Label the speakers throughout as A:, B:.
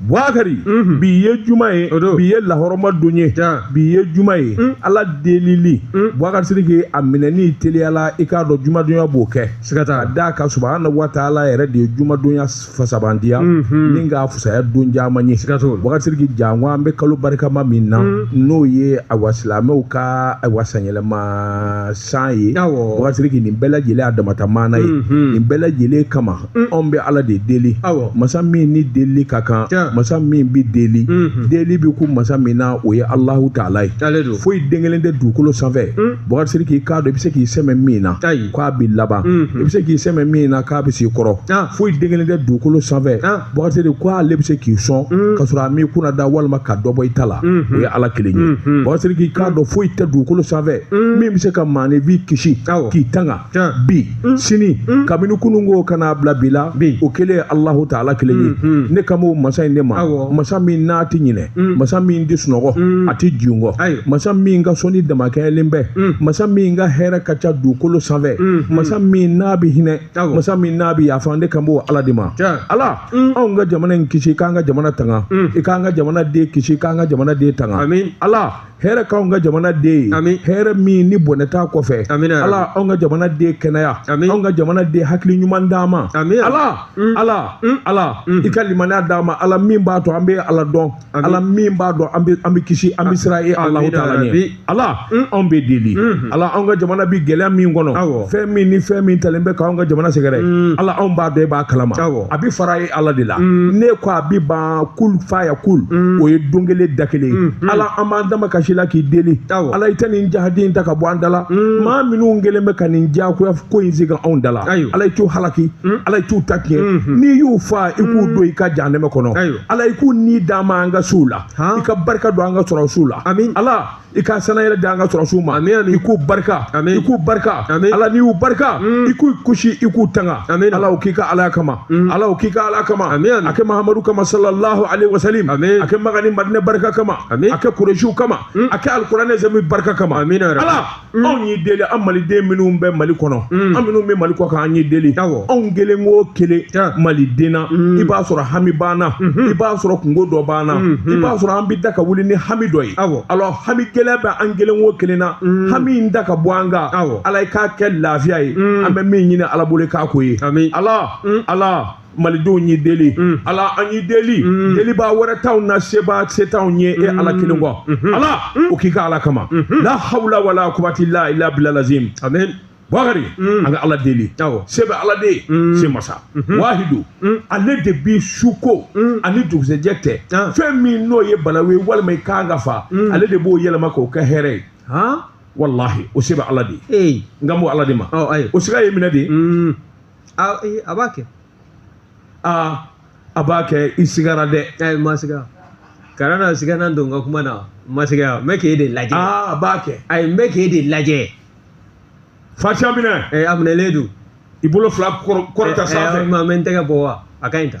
A: Bukari mhm. bi ye juma ye bi ye lahɔrɔma don ye bi ye juma ye mm. ala delili mm. Bukari Sidiki a minɛni teliyala i k'a dɔn jumadonya b'o kɛ siga t'a la ka subahana wa taala yɛrɛ de ye jumadonya fisamandiya mhm. ni k'a fusaya don caman ye siga t'o la Bukari Sidiki janko an bɛ kalo barikama min na mm. n'o ye awa silamɛw ka awa sanyɛlɛma san ye Bukari Sidiki nin bɛɛ lajɛlen a damata maana ye mhm. nin bɛɛ lajɛlen kama mm. anw bɛ ala de deli masa min ni delili ka kan masa min bɛ deli mhm. deli bɛ kun masa min na o ye alahu taala ye foyi den kelen tɛ dugukolo sanfɛ mm. Bukari Sidiki i k'a dɔn i bɛ se k'i sɛmɛ min na k'a b'i laban mhm. i bɛ se k'i sɛmɛ min na k'a bɛ se i kɔrɔ foyi den kelen tɛ dugukolo sanfɛ Bakari Sidiki ko ale bɛ se k'i sɔn ka sɔrɔ a m'i kunnada walima ka dɔ bɔ i ta la o ye ala kelen ye Bakari Sidiki i k'a dɔn foyi tɛ dugukolo sanfɛ min bɛ se ka maanifin kisi k'i tanga bi sini kabini kunun ko ka n'a bila bi la o kelen ye Alahu taala kelen ye ne kan b'o masa in de ma masa min n'a tɛ ɲinɛ masa min tɛ sunɔgɔ a tɛ jingɔ masa min ka sɔnni damakɛɲɛlen bɛ masa min ka hɛrɛ ka ca dugukolo sanfɛ masa min n'a bɛ hinɛ masa min n'a bɛ yafa ne kan b'o ala de ma ala mm. anw ka jamana in kisi k'an ka jamana tanga mm. i k'an ka jamana den kisi k'an ka jamana den tanga ala hɛrɛ k'anw ka jamana den ye hɛrɛ min ni bɔnɛ t'a kɔfɛ ala anw ka jamana den kɛnɛya anw ka jamana den hakili ɲuman d'an ma ala mm. ala ala i ka limaniya d'an ma ala min b'a to an bɛ ala dɔn ala min b'a to an bɛ kisi an bɛ siran e alahu taala ɲɛ ala anw b'i deli ala anw ka jamana bɛ gɛlɛya min kɔnɔ fɛn min ni fɛn min talen bɛ k'anw ka jamana sɛgɛrɛ ala anw b'a dɔn e b'a kalama a bɛ fara e ala de la n'e ko a bɛ ban kun faya kun o ye don kelen da kelen ye ala an b'an damakasi i la k'i deli ala i tɛ nin jahadi in ta ka bɔ an da la maa minnu kɛlen bɛ ka nin diyagoya ko in sigi anw da la ala i t'u halaki ala i t'u ta tiɲɛ n'i y'u fa i k'u don i ka jahanɛmɛ kɔnɔ ala i k'u ni d'an ma an ka suw la i ka barika don an ka sɔrɔsiw la amin ala i ka sannayɛlɛn di an ka sɔrɔsiw ma amin amin i k'u barika amin i k'u barika amin ala n'i y'u barika mm. i k'u kisi i k'u tanga amin ala o k'i ka ala kama mm. ala o k'i ka ala kama amin a kɛ mahamadu kama sallallahu alaihi wasallam amin a kɛ makan ni madina barika kama amin a kɛ kuresiw kama mm. a kɛ alikuranɛ azimi barika kama amin ala Mm. anw y'i deli an maliden minnu bɛ mali kɔnɔ mm. an minnu bɛ mali kɔkan an y'i deli anw kelen o kelen maliden na mm. i b'a sɔrɔ hami b'an na mm-hmm. i b'a sɔrɔ kunko dɔ b'an na mm-hmm. i b'a sɔrɔ an bɛ da ka wuli ni hami dɔ ye alors hami gɛlɛya bɛ an kelen o kelen na hami in ta ka bɔ an kan ala i k'a kɛ lafiya ye an bɛ min ɲini ala bolo i k'a k'o ye ala ala malidenw y'i deli mm. ala an y'i deli mm. delibaa wɛrɛ t'anw na sebaa si t'anw ye e ala mm. kelen kɔ mm-hmm. ala mm. o k'i ka ala kama mm-hmm. la hawla wala kuwati la ila bila lazim amen bakari an ka ala deli se bɛ ala de ye se masa mm-hmm. wahidu ale de bi suko ani dugusɛjɛ cɛ ah. fɛn min n'o ye balawu ye walima i kan ka fa ale de b'o yɛlɛma k'o kɛ hɛrɛ ye walahi o se bɛ ala de ye n ka bɔ ala de ma o siga ye minɛ de
B: a eh, a b'a kɛ aa
A: a b'a kɛ i sigara dɛ ayi n ma siga
B: kana na siga na don n ka kuma na n ma siga n bɛ k'e de lajɛ aa a b'a kɛ
A: ayi n bɛ k'e
B: de
A: lajɛ fatiha minɛ ɛ a minɛlen don
B: i bolo fila
A: kɔrɔ- kɔrɔta sanfɛ ma n bɛ n tɛgɛ bɔ wa
B: a ka ɲi ta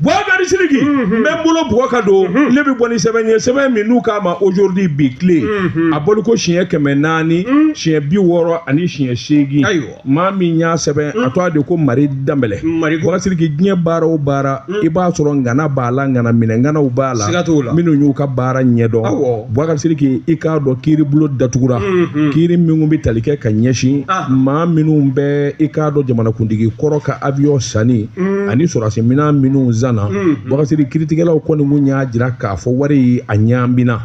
B: Bubakari
A: Siriki n bɛ n bolo bugɔ ka don ne bɛ bɔ ni sɛbɛn ye sɛbɛn min n'u k'a ma aujourd'hui bi tile a bɔli ko siɲɛ kɛmɛ naani siɲɛ bi wɔɔrɔ ani siɲɛ seegin Ayiwa. maa min y'a sɛbɛn a tɔgɔ de ko mari danbɛlɛ Mari Danbɛlɛ. Bubakari Siriki diɲɛ baara o baara i b'a sɔrɔ ŋana b'a la ŋana minɛ ŋanaw b'a la Siga t'o la. minnu y'u ka baara ɲɛdɔn Awɔ. Bubakari Siriki i k'a dɔn kiiribulon datugura kiiri minnu bɛ tali kɛ ka ɲɛsin Ah. maa minnu bɛ i k'a dɔn jamanakuntigi kɔrɔ ka avion sanni Mm. ani sɔrɔdasiminɛn minnu sanna mm, mm. Bubakari Siriki kiritigɛlaw kɔni kun y'a jira k'a fɔ wari ye a ɲaamina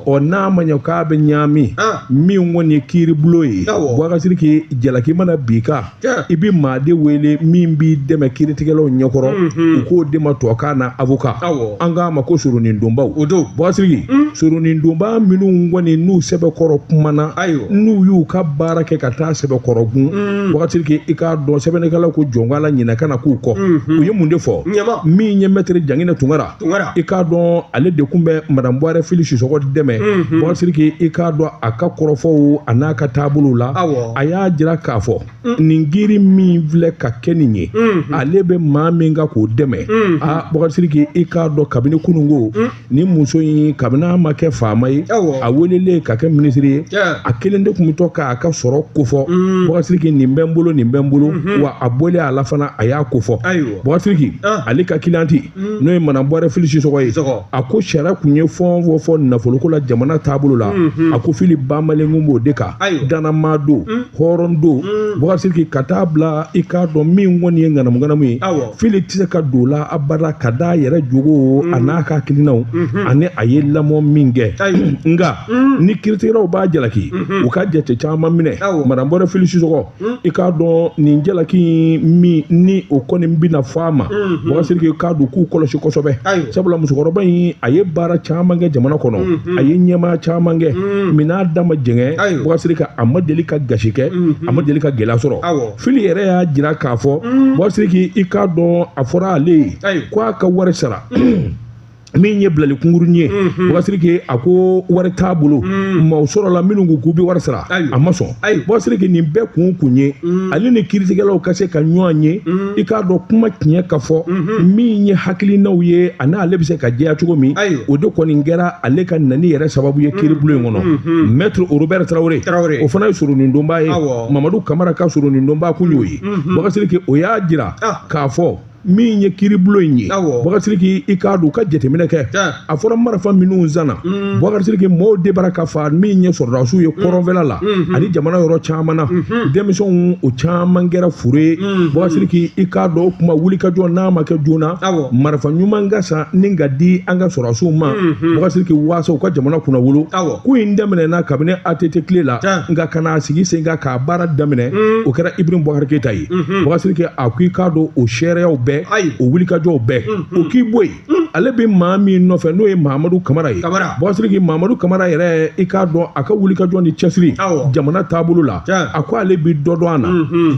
A: ɔ n'a ma ɲɛ k'a bɛ ɲaami ah. min kɔni ye kiiribulon ye Bubakari Siriki jalaki mana bin i kan i bɛ maa de wele min b'i dɛmɛ kiritigɛlaw ɲɛkɔrɔ mm-hmm. u k'o de ma tubabukan na avocat an k'a ma ko soronin donbaw Bubakari Siriki soronin donba minnu kɔni n'u sɛbɛkɔrɔ kumana n'u y'u ka baara kɛ ka taa sɛbɛkɔrɔ gun mm. Bubakari Siriki i k'a dɔn sɛbɛnnikɛlaw ko janko la ɲinɛ kana k'u kɔ mm-hmm. u ye mun de fɔ min ye mɛtiri Jangina Tunkara i k'a dɔn ale de kun bɛ madame buwarɛ fili sisɔkɔ dɛmɛ mm-hmm. Bubakari Siriki i k'a dɔn a ka kɔrɔfɔw a n'a ka taabolow la a y'a jira k'a fɔ mm. nin kiiri min filɛ ka kɛ nin ye mm-hmm. ale bɛ maa min ka k'o dɛmɛ a Bubakari Siriki i k'a dɔn kabini kununko ni muso in kabini a ma kɛ faama ye a welelen ka kɛ minisiri ye a kelen de kun bɛ to k'a ka sɔrɔ kofɔ mm. Bubakari Siriki nin bɛ n bolo nin bɛ n bolo mm-hmm. wa a bɔlen a la fana a y'a kofɔ Bubakari Siriki ah. ale ka cliente mm. n'o ye madame buwarɛ fili sisɔkɔ ye a ko sariya kun ye fɛn o fɛn fɔ nafoloko la jamana taabolo la mm-hmm. a ko fili bamalen kun b'o de kan dannamaa don mm. hɔrɔn don Bubakari Siriki ka taa bila i k'a dɔn min kɔni ye ŋanamuŋanamu ye fili tɛ se ka don o la abada ka d'a yɛrɛ jogo a n'a ka hakilinaw ani a ye lamɔ min kɛ nka ni kiritigɛlaw b'a jalaki u ka jate caman minɛ madame buwarɛ fili sisɔkɔ i k'a dɔn nin jalaki min ni o kɔni bɛna fɔ a ma Bubakari Siriki k'a dɔn k'u kɔlɔsi kosɛbɛ sabula musokɔrɔba in a ye baara caman kɛ jamana kɔnɔ a ye ɲɛmaaya caman kɛ minɛn da ma jɛngɛ bɔgasiriki a ma deli ka gasi kɛ a ma deli ka gɛlɛya sɔrɔ fili yɛrɛ y'a jira k'a fɔ bɔgasiriki i k'a dɔn a fɔra ale ye ko a ka wari sara min ye bilali kunkurunnin ye bɔgasiriki a ko wari t'a bolo maaw sɔrɔla minnu ko k'u bɛ wari sara a ma sɔn ayi bɔgasiriki nin bɛɛ kun kun ye mm. ale ni kiiritigɛlaw ka se ka ɲɔgɔn ye mm. i k'a dɔn kuma tiɲɛ ka fɔ mm-hmm. min ye hakilinaw ye ani ale bɛ se ka jɛya cogo min o de kɔni kɛra ale ka nani yɛrɛ sababu ye kiiribulon in kɔnɔ mm-hmm. mɛtiri orobɛri tarawele o fana ye soronindonba ye mamadu kamara ka soronindonba kun y'o ye bɔgasiriki mm-hmm. o y'a jira ah. k'a fɔ min ye kiiribulon in ye bɔgasiriki i k'a dɔn u ka jateminɛ kɛ a fɔra marifa minnu sanna mm. bɔgasiriki mɔɔw de b'a ra ka fa min ye sɔrɔdasiw ye mm. kɔrɔnfɛla la mm-hmm. ani jamana yɔrɔ caman na mm-hmm. denmisɛnw o caman kɛra fure ye mm-hmm. bɔgasiriki i k'a dɔn o kuma wulikajɔ n'a ma kɛ joona marifa ɲuman ka san ni ka di an ka sɔrɔdasiw ma bɔgasiriki waasa u ka jamana kunnawolo ko in daminɛna kabini ATT tile la nka ka n'a sigi sen kan k'a baara daminɛ mm. o kɛra Ibrahim Boubacar Keita ye mhm. bɔgasiriki a ko i k'a dɔn o seereyaw bɛɛ o wulikajɔw bɛɛ mhm. o k'i bɔ yen mhm. ale bɛ maa min nɔfɛ n'o ye mahamadu kamara ye bɔgasiriki mahamadu kamara yɛrɛ i k'a dɔn a ka wulikajɔ ni cɛsiri jamana taabolo la a ko ale bɛ dɔ dɔn a na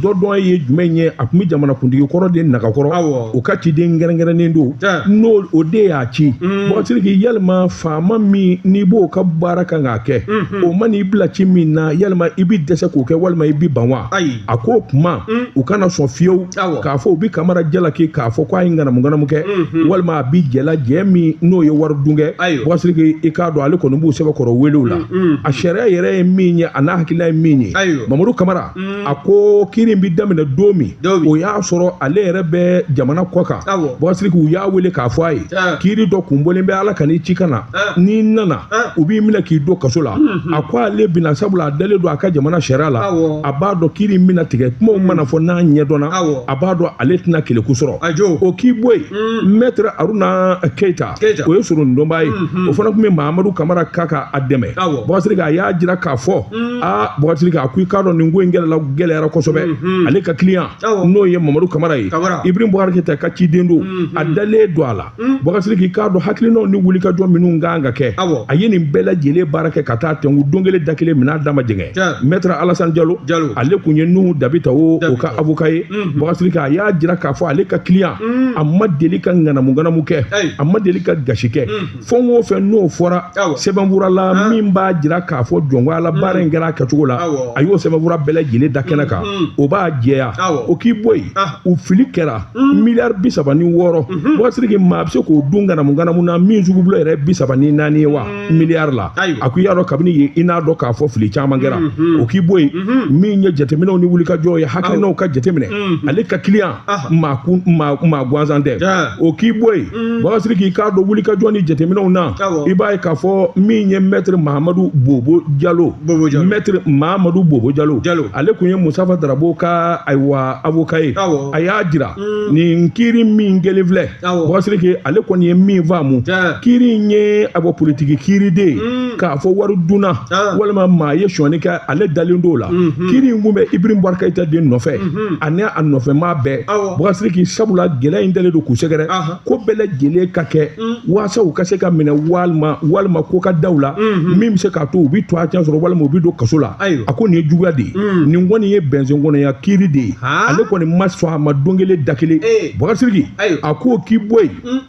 A: dɔ dɔn ye jumɛn ye a tun bɛ jamanakuntigi kɔrɔ de nagakɔrɔ o ka ciden kɛrɛnkɛrɛnnen don n'o o de y'a ci bɔgasiriki yalima faama min n'i b'o ka baara kan k'a kɛ o man'i bila ci min na yalima i bɛ dɛsɛ k'o kɛ walima i bɛ ban wa a ko kuma mm. u kana sɔn fiyewu k'a fɔ u bɛ kamara jalaki k'a fɔ ko a ye ŋanamuŋanamu kɛ mm-hmm. walima a bɛ jɛ la jɛ min n'o ye wari dun kɛ bɔgasiriki i k'a dɔn ale kɔni b'u sɛbɛkɔrɔ wele o la mm-hmm. a sariya yɛrɛ ye min ye a n'a hakilina ye min ye mamadu kamara mm. a ko kiiri bɛ daminɛ don min o y'a sɔrɔ ale yɛrɛ bɛ jamana kɔ kan bɔgasiriki u y'a wele k'a fɔ a ye kiiri dɔ kunbɔlen bɛ ala kan'i ci ka na n'i nana ah. u b'i minɛ k'i don kaso la mhm. a ko ale bina sabula a dalen don a ka jamana sariya la a b'a dɔn kiiri in bina tigɛ kumaw mana fɔ n'a ɲɛdɔnna a b'a dɔn ale tɛna keleku sɔrɔ o k'i bɔ yen mm. mɛtre aruna keita o ye sorondonba ye mhm. o fana tun bɛ mahamadu kamara ka ka a dɛmɛ bɔgasiriki a y'a jira k'a fɔ mm. a bɔgasiriki a ko i k'a dɔn nin ko in gɛlɛla gɛlɛyara kosɛbɛ mhm. ale ka kiliyan n'o ye mamadu kamara ye ibrim bɔgari keyita ka ciden don a dalen don a la Bɔgasiriki i k'a dɔn hakilinaw ni wulikajɔ minnu ka kan ka kɛ, awɔ, a ye nin bɛɛ lajɛlen baara kɛ ka taa tɛnku don kelen da kelen minɛn da ma jɛngɛ, tiɲɛ, Maître Alassane Jalo, Jalo, ale tun ye Nuhu Dabitawo o ka avocat ye, unhun, Bɔgasiriki a y'a jira k'a fɔ ale ka client a ma deli ka ŋanamu ŋanamu kɛ, ayi, a ma deli ka gasi kɛ, unhun, fɛn o fɛn n'o fɔra, awɔ, sɛbɛnfura la han, min b'a jira k'a fɔ jɔngoya la baara in kɛra a kɛcogo la, awɔ, a y'o sɛbɛnfura bɛɛ lajɛlen da kɛnɛ kan, unhun, o b'a jɛya, awɔ, o k'i bɔ yen, an, u fili kɛra Mm. miliyari bi saba ni wɔɔrɔ mhm. Bakari Sidiki maa bɛ se k'o dun ŋanamuŋanamu na min sugu bolo yɛrɛ bi saba ni naani ye wa mm. miliyari la a ko i y'a dɔn kabini yen i n'a dɔn k'a fɔ fili caman kɛra mhm. o k'i bɔ yen mhm. min ye jateminɛw ni wulikajɔ ye hakilinaw ka jateminɛ ale ka kiliyan maa kun maa maa gansan tɛ o k'i bɔ yen mm. Bakari Sidiki k'a dɔn wulikajɔ ni jateminɛw na i b'a ye k'a fɔ min ye mɛtiri mahamadu bobo jalo mɛtiri mahamadu bobo jalo ale kun ye musafa darabo ka ayiwa avoka ye a y'a jira mm. nin kiiri min kɛlen filɛ Bakari Sidiki ale kɔni ye min faamu kiiri in ye a bɔ politiki kiiri de ye mm. k'a fɔ wari dunna walima maa ye sonyani kɛ ale dalen don o la mm-hmm. kiiri in kun bɛ ibrahim bubakari keyita de nɔfɛ mm-hmm. ani a nɔfɛmaa bɛɛ Bakari Sidiki sabula gɛlɛya in dalen don k'u sɛgɛrɛ ko bɛɛ lajɛlen ka kɛ mm. waasa u ka se ka minɛ walima walima ko ka da u la mm-hmm. min bɛ se k'a to u bɛ tɔgɔ cɛn sɔrɔ walima u bɛ don kaso la a ko nin ye juguya de ye mm. nin kɔni ye bɛnsen kɔnɔya kiiri de ye ale kɔni ma sɔn a ma don kelen da kelen eh. Bakari Sidiki a k'o k'i bɔ yen mm.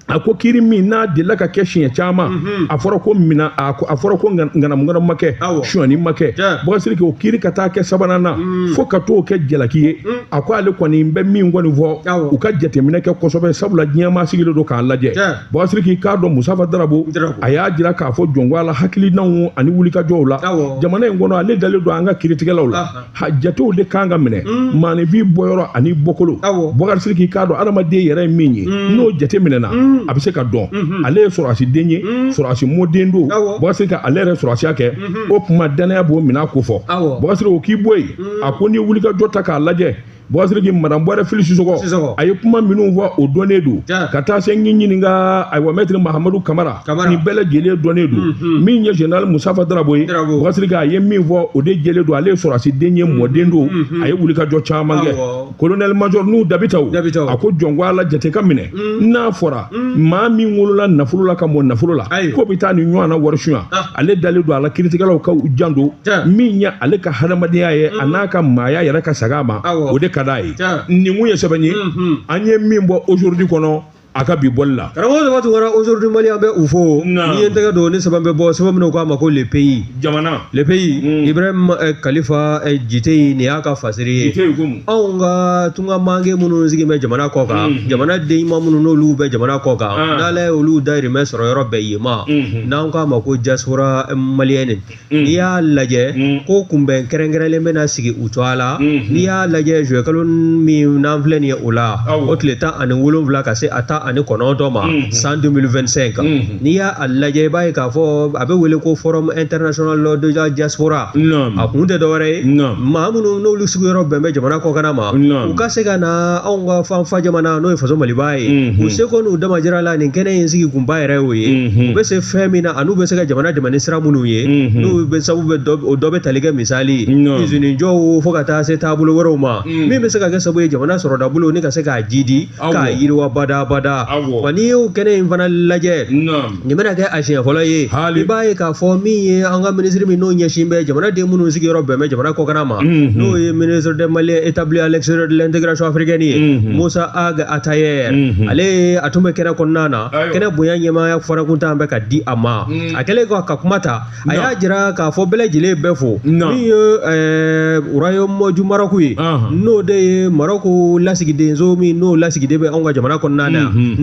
A: a ko kiiri min n'a delila ka kɛ siɲɛ caman mm-hmm. a fɔra ko mina a fɔra ko ŋanamuŋanamu ma kɛ sonyani ma kɛ Bakari Sidiki o kiiri ka taa kɛ sabanan na fo ka t'o kɛ jalaki ye a ko ale kɔni bɛ min kɔni fɔ u ka jateminɛ kɛ kosɛbɛ sabula diɲɛ maa sigilen don k'a lajɛ Bakari Sidiki k'a dɔn musafa darabo a y'a jira k'a fɔ jɔn ko ala hakilinaw ani wulikajɔw la jamana in kɔnɔ ale dalen don an ka kiiritigɛlaw la jatew de kan ka minɛ hmm. maanifin bɔyɔrɔ ani bɔkolo Bakari Sidiki k'a dɔn adamaden yɛrɛ ye min ye hmm. n'o jate minɛna hmm. a bɛ se ka dɔn ale ye sɔrɔdasi den ye sɔrɔdasi mɔden don Bakari Sidiki ka ale yɛrɛ sɔrɔdasiya kɛ o tuma dannaya b'o minɛ ko fɔ Bakari Sidiki o k'i bɔ yen a ko n'i ye wulikajɔ ta k'a lajɛ Bakari Sidiki madame buware fili sisɔgɔ Sisɔgɔ. a ye kuma minnu fɔ o dɔnnen don Ja. ka taa se n ɲininka ayiwa mɛtiri mahamadu kamara Kamara. nin bɛɛ lajɛlen dɔnnen don min ye general musafa darabo ye Darabo. Bakari Sidiki a ye min fɔ o de jɛlen don ale ye sɔrɔdasi den ye mɔden don a ye wulikajɔ caman kɛ Awɔ. kolonɛli majɔ nuhun dabitaw a ko jɔn ko ala jate ka minɛ mm. n'a fɔra mm. maa min wolola nafolo la ka mɔ nafolo la k'o bɛ taa nin ɲɔgɔnna wari sonya ah. ale dalen don a la kiiritigɛlaw ka janto min ye ale ka hadamadenya ye a mm. n'a ka maaya yɛrɛ ka saga a ma o de ka d'a ye nin kun ye sɛbɛn ye mm-hmm. an ye min bɔ aujourd'hui kɔnɔ a ka bi bɔli la karamɔgɔ saba tunkara
B: aujourd'hui mali an bɛ u fo n'i ye tɛgɛ don ni sɛbɛn bɛ bɔ sɛbɛn min n'u k'a ma ko le pays jamana le pays
A: mm.
B: ibrahim eh, kalifa eh, jite nin y'a ka fasari ye anw ka tunga mange minnu sigi bɛ jamana kɔ kan mm. jamana den ɲuman minnu n'olu bɛ jamana kɔ kan ah. n'ala ye olu dayirimɛ sɔrɔ yɔrɔ bɛn yen ma mm-hmm. n'an k'a ma ko diaspora malienne Mm. n'i y'a lajɛ mm. ko kunbɛn kɛrɛnkɛrɛnlen bɛna sigi u cogoya la mm-hmm. n'i y'a lajɛ zuwɛkalo min n'an filɛ nin ye o la o tile tan ani wolonwula ka se a tan ani kɔnɔntɔn ma mm-hmm. san 2025 kan mm-hmm. n'i y'a lajɛ i b'a ye k'a fɔ a bɛ wele ko forum international de la diaspora a kun tɛ dɔwɛrɛ ye maa minnu n'olu sigiyɔrɔ bɛn bɛ jamana kɔkanna ma u ka se ka na anw ka fanfa jamana n'o ye faso maliba ye u seko n'u damajira la nin kɛnɛ in sigi kunba yɛrɛ y'o ye u bɛ se fɛn min na an'u bɛ se ka jamana dɛmɛ ni sira minnu ye n'u bɛ sabu o dɔ bɛ tali kɛ misali izini jɔw fo ka taa se taabolo wɛrɛw ma min bɛ se ka kɛ sabu ye jamana sɔrɔda bolo ni ka se k'a jidi k'a yiriwa badabada wa n'i y'o kɛnɛ in fana lajɛ nin bɛna kɛ a siɲɛ fɔlɔ ye i b'a ye k'a fɔ min ye an ka minisiri min n'o ɲɛsin bɛ jamanaden minnu sigiyɔrɔ bɛn bɛ jamana kɔkanna ma mhm. n'o ye ministre des maliens établis à l'extérieur de l'intégration africaine ye mhm. musa ag atayer mhm. ale a tun bɛ kɛnɛ kɔnɔna na kɛnɛ bonya ɲɛmaaya fɔrakuntan bɛ ka di a ma a kɛlen ka kuma ta a y'a jira k'a fɔ bɛɛ lajɛlen bɛ fo min ye royaume du maroc ye n'o de ye maroc lasigidenso min n'o lasigiden bɛ anw ka jamana kɔnɔna na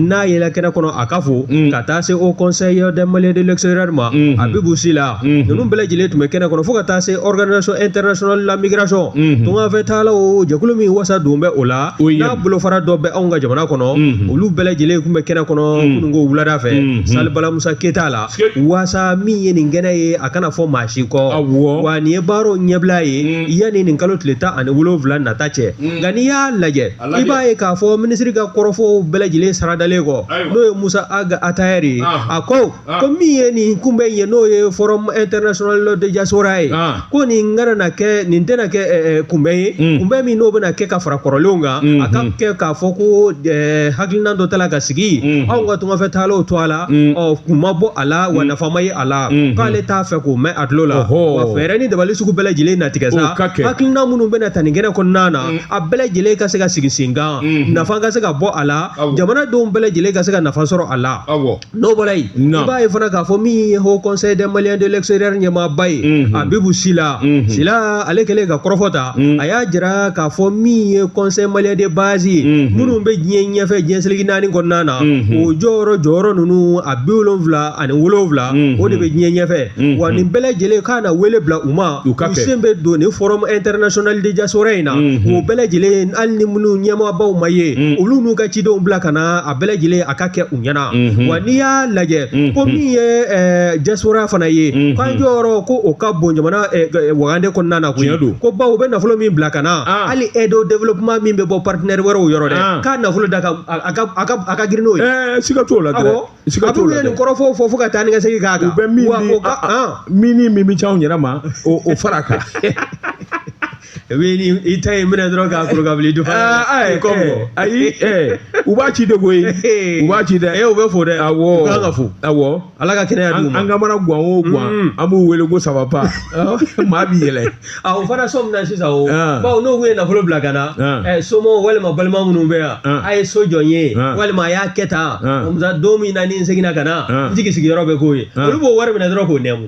B: n'a yɛlɛ kɛnɛ kɔnɔ a ka fo ka taa se haut conseil des maliens de l'extérieur ma abibu sila ninnu bɛɛ lajɛlen tun bɛ kɛnɛ kɔnɔ fo ka taa se organisation internationale de la migration tungafɛ taala o jɛkulu min wasa don bɛ o la n'a bolofara dɔ bɛ anw ka jamana kɔnɔ olu bɛɛ lajɛlen tun bɛ kɛnɛ kɔnɔ kununko wulada fɛ salle bala musa keyita la wasa min ye nin kɛnɛ ye a kana fɔ maa si kɔ wa nin ye baaraw ɲɛbila ye mm. yanni nin kalo tile tan ani wolonwula nata cɛ mm. nka n'i y'a lajɛ i b'a ye k'a fɔ minisiri ka kɔrɔfɔw bɛɛ lajɛlen saradalen kɔ n'o ye musa ag atayer ye ah. a ko ah. ko min ye nin kunbɛn ye n'o ye forum international de diaspora ye ah. ko nin kana na kɛ nin tɛna kɛ eh, eh, kunbɛn ye mm. kunbɛn min n'o bɛna kɛ ka fara kɔrɔlenw kan mm-hmm. a ka kɛ k'a fɔ ko eh, hakilina dɔ tala ka sigi mm-hmm. anw ka tungafɛ taalaw tɔgɔ la mm. ɔ kun ma bɔ a la wa mm. nafa ma ye a la mm-hmm. k'ale t'a fɛ k'o mɛn a tulo la wa fɛɛrɛ ni dabali sugu bɛɛ lajɛlen na tigɛ sa hakilina minnu bɛna ta nin kɛnɛ kɔnɔna na a bɛɛ lajɛlen ka se ka sigi sen kan nafa ka se ka bɔ a la jamanadenw bɛɛ lajɛlen ka se ka nafa sɔrɔ a la n'o bɔra yen i b'a ye fana k'a fɔ min ye haut conseil des maliens de l'extérieur ɲɛmaaba ye mhm. abibu sila mhm. sila ale kɛlen ka kɔrɔfɔ ta mhm. a y'a jira k'a fɔ min ye conseil malien de base ye minnu bɛ diɲɛ ɲɛfɛ diɲɛ seleke naani kɔnɔna na o jɔyɔrɔ jɔyɔrɔ ninnu a bi wolonwula ani wolonwula o de bɛ diɲɛ ɲɛfɛ wa nin bɛɛ lajɛlen k'a na wele bila u ma u sen bɛ don nin forum international de diaspora in na o bɛɛ lajɛlen hali ni minnu ɲɛmaabaw ma ye olu n'u ka cidenw bila ka na bɛɛ lajɛlen a ka kɛ u ɲɛna mhm. wa n'i y'a lajɛ mhm. ko min ye eh, diaspora fana ye mhm. k'an jɔyɔrɔ ko o ka bon jamana eh, eh, wagande kɔnɔna na koyi ko bawo u bɛ nafolo min bila ka na ah. hali aide au développement min bɛ bɔ partenaire wɛrɛw yɔrɔ dɛ ah. k'a nafolo da a ka girin n'o ye siga t'o la dɛ
A: siga t'o la dɛ a bɛ nin kɔrɔfɔ fɔ fo ka taa
B: ni ka segin k'a kan u bɛ min
A: min min min bɛ c'anw yɛrɛ ma o fara a kan
B: wele i ta ye minɛ dɔrɔn k'a kuru k'a bila dufa ayi kɔmɔ
A: ayi u b'a ci de koyi u b'a ci dɛ e u bɛ fo dɛ awɔ u
B: kan ka fo
A: awɔ
B: ala ka kɛnɛya
A: d'u ma an
B: ka mana guwan o
A: guwan mm. an b'u wele ko sababa maa b'i yɛlɛ a o fana so min
B: na sisan o bawo n'u kun ye nafolo bila ka na somɔgɔw walima balima minnu bɛ yan a ye so jɔ n ye walima a y'a kɛ tan don min na ni n seginna ka na n jigi sigiyɔrɔ bɛ k'o ye olu b'o wari minɛ dɔrɔn k'o nɛmu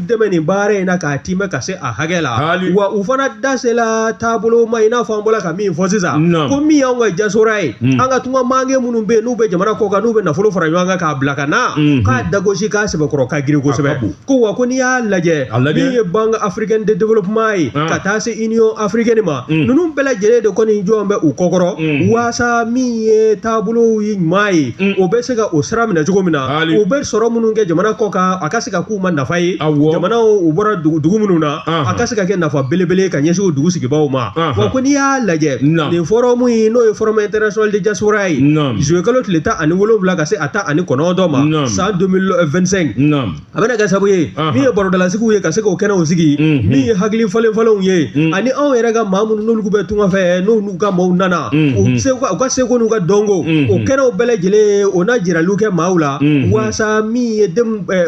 B: dɛmɛ nin baara in na k'a tiimɛ ka se a hakɛ la wa u fana da sela taabolo ma i n'a fɔ an bɔra ka min fɔ sisan ko min y'anw ka diaspora ye hmm. an ka tungaranke minnu bɛ yen n'u bɛ jamana kɔ kan n'u bɛ nafolo fara ɲɔgɔn kan k'a bila ka na hmm. k'a dagosi k'a sɛbɛkɔrɔ ka girin kosɛbɛ ko wa ko n'i y'a lajɛ min ye banque africaine de développement ye ah. ka taa se union africaine ma hmm. ninnu bɛɛ lajɛlen de kɔni jɔlen bɛ u kɔkɔrɔ waasa min ye taabolo ɲuman ye o bɛ se ka o sira minɛ cogo min na u bɛ sɔrɔ minnu kɛ jamana kɔ kan a ka se ka k'u ma nafa ye jamana u bɔra dugu minnu na a ka se ka kɛ nafa belebele ka ɲɛsin o dugu sigibaaw ma wa ko n'i y'a lajɛ nin forum in ye n'o ye forum international de diaspora ye juillet kalo tile tan ani wolonwula ka se a tan ani kɔnɔntɔn ma san 2025 a bɛna kɛ sabu ye min ye barodalasigiw ye ka se k'o kɛnɛw sigi min ye hakili falen falenw ye ani anw yɛrɛ ka maa minnu n'olu bɛ tunga fɛ n'olu u ka maaw nana u ka seko n'u ka dɔnko o kɛnɛw bɛɛ lajɛlen o na jiraliw kɛ maaw la waasa min ye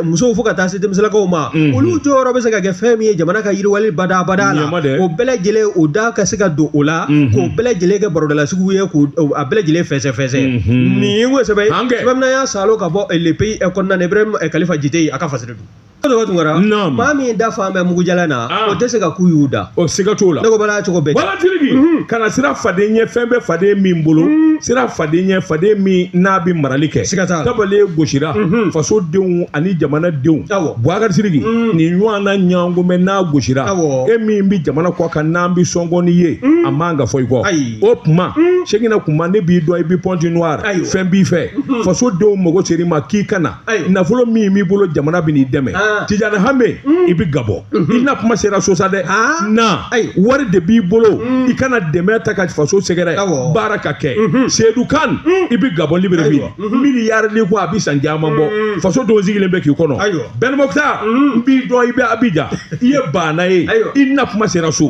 B: musow fo ka taa se denmisɛnlakaw ma olu jɔyɔrɔ bɛ se ka kɛ fɛn min ye jamana ka yiriwali badabada la o bɛɛ lajɛlen o da ka se ka don o la k'o bɛɛ lajɛlen kɛ barodalasigi ye k' a bɛɛ lajɛlen fɛsɛ fɛsɛ nin ye ko sɛbɛn sɛbɛnna y'a salo ka bɔ Le Pays kɔnɔna na Ibrahim Kalifa Jite a ka fasiri don dɔgɔ tun kɛra Naam. maa min da falen bɛ mugujalan na Ah. o tɛ se ka ku y'u da ɔ siga t'o la ne ko
A: bala cogo bɛɛ
B: wala tiriki
A: kana siran faden ɲɛ fɛn bɛ faden min bolo siran faden ɲɛ faden min n'a bɛ marali kɛ Siga t'a la. tabale gosira faso denw ani jamana denw Awɔ. Buwakari Siriki nin ɲɔgɔn na ɲɔgɔn bɛ n'a gosira Awɔ. e min bɛ jamana kɔ kan n'an bɛ sɔngɔni ye a man ka fɔ i kɔ Ayi. o tuma segin na kuma ne b'i dɔn i bɛ Pointe-Noire Ayiwa. fɛn b'i fɛ faso denw mago ser'i ma k'i ka na nafolo min b'i bolo jamana bɛn'i dɛmɛ ah. Tijani Hame mm. i bɛ Gabon mm-hmm. i na kuma sera so sa dɛ ah. na wari de b'i bolo mm. i ka na dɛmɛ ta ka faso sɛgɛrɛ baara ka kɛ mm-hmm. Seyidu Kane mm. i bɛ Gabon Libreville mm-hmm. miliyari ni ko a bɛ san caman bɔ faso dun sigilen bɛ k'i kɔnɔ Ben Mokhtar n b'i dɔn i bɛ Abijan i ye baana ye i na kuma sera so.